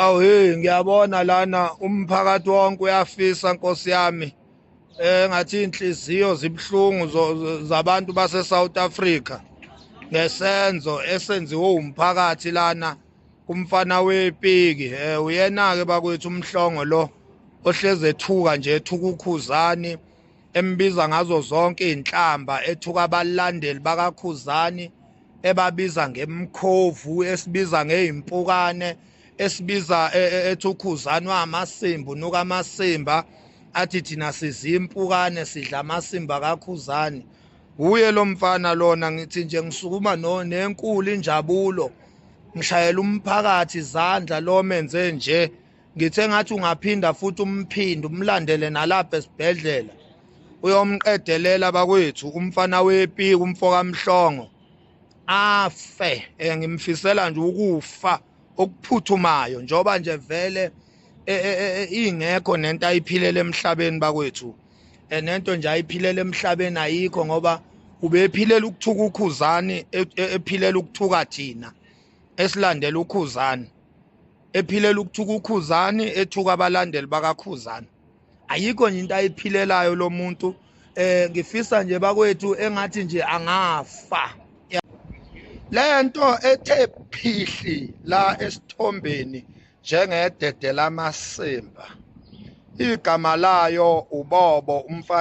Awu hey ngiyabona lana umphakathi wonke uyafisa Nkosi yami engathi inhliziyo zibuhlungu zabantu base South Africa ngesenzo esenziwe umphakathi lana kumfana wepiki eh uyena ke bakwethu umhlongo lo ohleze ethuka nje ethukukhuzani embiza ngazo zonke izinhlamba ethuka abalandeli bakakhuzani ebabiza ngemkhovu esibiza ngezimpukane esibiza e, e, ethi ukhuzani wamasimba unuka amasimba athi thina sizimpukane sidla amasimba kakhuzani wuye lo mfana lona ngithi nje ngisukuma nenkulu injabulo ngishayela umphakathi izandla lo menze nje ngithe ngathi ungaphinda futhi umphinde umlandele nalapha esibhedlela uyomqedelela bakwethu umfana wepiki umfokamhlongo afe eh, ngimfisela nje ukufa okuphuthumayo njoba nje vele eh, eh, ingekho nento ayiphilela emhlabeni bakwethu nento nje ayiphilela emhlabeni ayikho ngoba ubephilela ukuthuka ukhuzani e, e, ephilela ukuthuka thina esilandela ukhuzani ephilela ukuthuka ukhuzani ethuka abalandeli bakakhuzani ayikho nje into ayiphilelayo lo muntu eh ngifisa nje bakwethu engathi nje angafa lento ethe phihli la esithombeni njengedede lamasimba igama layo ubobo umfana